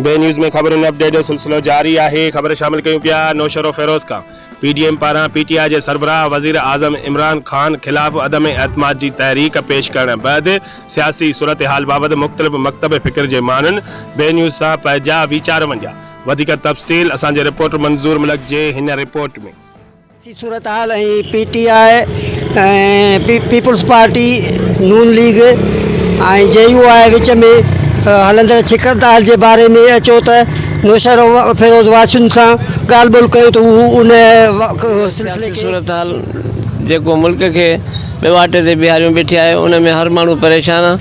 بي news ۾ خبرن update جو سلسلو جاري آهي خبر شامل ڪيون پيا نوشهر و فيروز کان پي ڊي ايم پاران پي ٽي آء جي سربراهه وزير اعظم عمران خان خلاف عدم اعتماد جي تحريڪ پيش ڪرڻ بعد سياسي صورتحال بابت مختلف مڪتب فڪر جي ماڻهن بي نيوز سان پنهجا ويچار ونڊيا وڌيڪ تفصيل اسان جي رپورٽر منظور ملڪ جي هن رپورٽ ۾. سياسي صورتحال ۽ P T I ۽ peoples party, نون ليگ ۽ جي يو آء وچ ۾ هلندڙ ڇڪتاڻ جي باري ۾ اچو ته نوشهروفيروز واسين سان ڳالهه ٻولهه ڪيون ته هو ان سلسلي کي سياسي صورتحال جيڪو ملڪ کي ڏواٽي تي بيهاريون بيٺي آهي ان ۾ هر ماڻهو پريشان آ.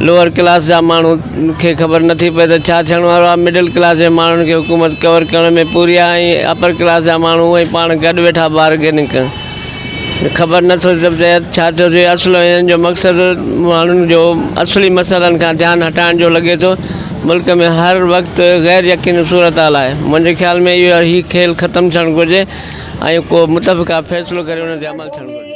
لوئر ڪلاس جا ماڻهو کي خبر نٿي پئي ته ڇا ٿيڻ وارو آهي، مڊل ڪلاس جي ماڻهن کي حڪومت ڪور ڪرڻ ۾ پوري آهي ۽ اپر ڪلاس جا ماڻهو اونئن پاڻ گڏ ويٺا بارگيننگ ڪن. خبر نٿو پئي ته ڇا ٿو ٿئي، اصل ۾ هنن جو مقصد ماڻهن جو اصلي مسئلن کان ڌيان هٽائڻ جو لڳي ٿو. ملڪ ۾ هر وقت غير يقيني صورتحال آهي. منهنجي خيال ۾ اهو هي کيل ختم ٿيڻ گهرجي ۽ ڪو متفقه فيصلو ڪري ان تي عمل ٿيڻ گهرجي.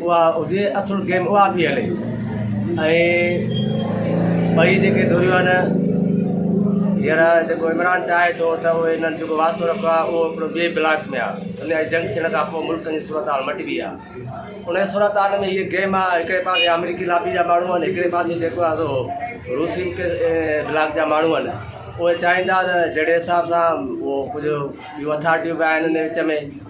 اها هجي اصل گيم اها پئي هلي ۽ ٻئي جيڪي ڌريون آهن هينئر جيڪو عمران چاهي ٿو ته اهي هنن جيڪو واسطو رکيو آهي اهو هڪڙو ٻئي بلاڪ ۾ آهي ان جي جنگ ٿيڻ کان پوء ملڪ جي صورت حال مٽبي آهي ان جي صورت حال ۾ هيء گيم آهي هڪڙي پاسي آمريڪي لابي جا ماڻهو آهن هڪڙي پاسي جيڪو آهي سو روسي بلاڪ جا ماڻهو آهن اهي چاهيندا ته جهڙي حساب سان اهو ڪجهه ٻيون اٿارٽيون به آهن ان وچ ۾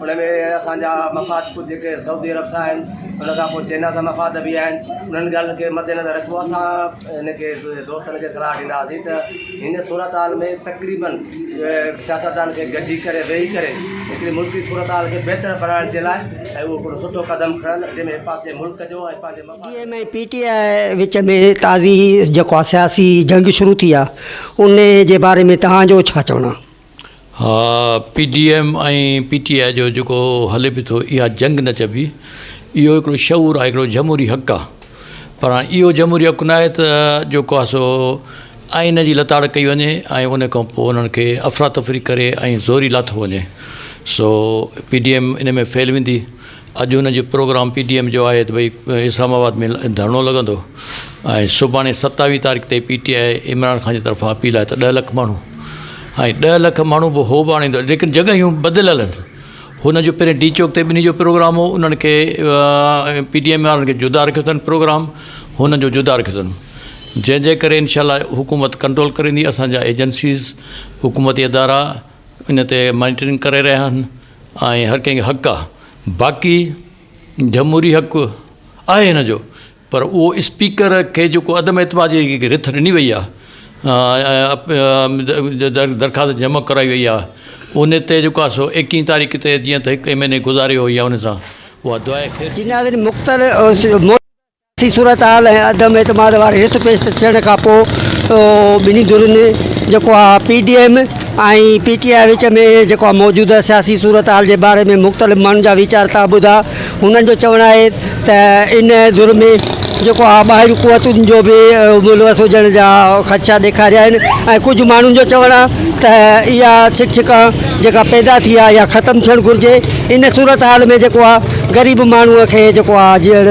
ان ۾ اسان جا مفاد ڪجهه جيڪي سعودي عرب سان آهن ان کان پوء چينا سان مفاد به آهن انهن ڳالهين کي مد نظر رکبو آهي اسان ان کي دوستن کي صلاح ڏينداسين ته هن صورت حال ۾ تقريبن سياستدان کي گڏجي ڪري ويهي ڪري هڪڙي ملڪي صورت حال کي بهتر بڻائڻ جي لاء اهو هڪڙو سٺو قدم کڻن جنهن ۾ پنهنجي ملڪ جو ۽ پنهنجي مفاد M D M ۽ P T I وچ ۾ تازي جيڪو آ سياسي جنگ شروع ٿي آ انهي جي باري ۾ توهان جو ڇا چوڻ آ؟ ها P D M ۽ P T I جو جيڪو هلي به ٿو اها جنگ نه چئبي اهو هڪڙو شعور آهي هڪڙو جمهوري حق آهي پر هاڻي اهو جمهوري حق ناهي ته جيڪو آهي سو آئين جي لتاڙ ڪئي وڃي ۽ ان کان پوء انهن کي افراتفري ڪري ۽ زوري لاٿو وڃي سو پي ڊي ايم ان ۾ فيل ويندي اڄ هن جو پروگرام پي ڊي ايم جو آهي ته ڀئي اسلام آباد ۾ ڌرڻو لڳندو ۽ سڀاڻي ستاويهه تاريخ تي P T I Imran Khan جي طرفان اپيل آهي ته ڏهه لک ماڻهو ۽ ڏهه لک ماڻهو به هو به آڻيندو ليڪن جڳهيون بدليل آهن هن جو پهرين ڊي چوڪ تي ٻنهي جو پروگرام هو انهن کي پي ڊي ايم وارن کي جدا رکيو اٿن پروگرام هن جو جدا رکيو اٿن جنهن جي ڪري انشاء الله حڪومت ڪنٽرول ڪريندي اسان جا ايجنسيز حڪومتي ادارا ان تي مانيٽرنگ ڪري رهيا آهن ۽ هر ڪنهن کي حق آهي باقي جمهوري حق آهي هن جو پر اهو اسپيڪر کي جيڪو عدم اعتماد جي جيڪي رٿ ڏني وئي آهي درخواست جمع ڪرائي وئي آهي ان تي جيڪو آهي سو ايڪيهن تاريخ تي جيئن ته هڪ ايم اين اي گذاريو يا ان سان اها دعائي خير ٿي سي صورتحال ۽ عدم اعتماد واري رٿ پيش تي ٿيڻ کان پوء ٻنهي ڌرين جيڪو آ P D M ۽ P T I وچ ۾ جيڪو آ موجوده سياسي صورتحال جي باري ۾ مختلف ماڻهن جا ويچار تان ٻڌا هنن جو چوڻ آهي ته ان ڌر ۾ جيڪو آ ٻاهريون قوتن جو به ملوث هجڻ جا خدشا ڏيکاريا آهن ۽ ڪجهه ماڻهن جو چوڻ آ ته اها ڇڪ ڇڪان جيڪا پيدا ٿي آ اها ختم ٿيڻ گهرجي ان صورتحال ۾ جيڪو آ غريب ماڻهوء کي جيڪو آ جيئڻ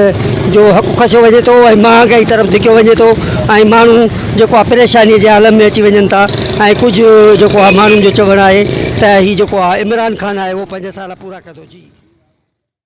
جو حق کسيو وڃي ٿو ۽ مهانگائي طرف ڌڪيو وڃي ٿو ۽ ماڻهو جيڪو آ پريشانيء جي عالم ۾ اچي وڃن ٿا ۽ ڪجهه جيڪو آ ماڻهن جو چوڻ آهي ته هي جيڪو آ عمران خان آهي اهو پنج سال پورا ڪندو جي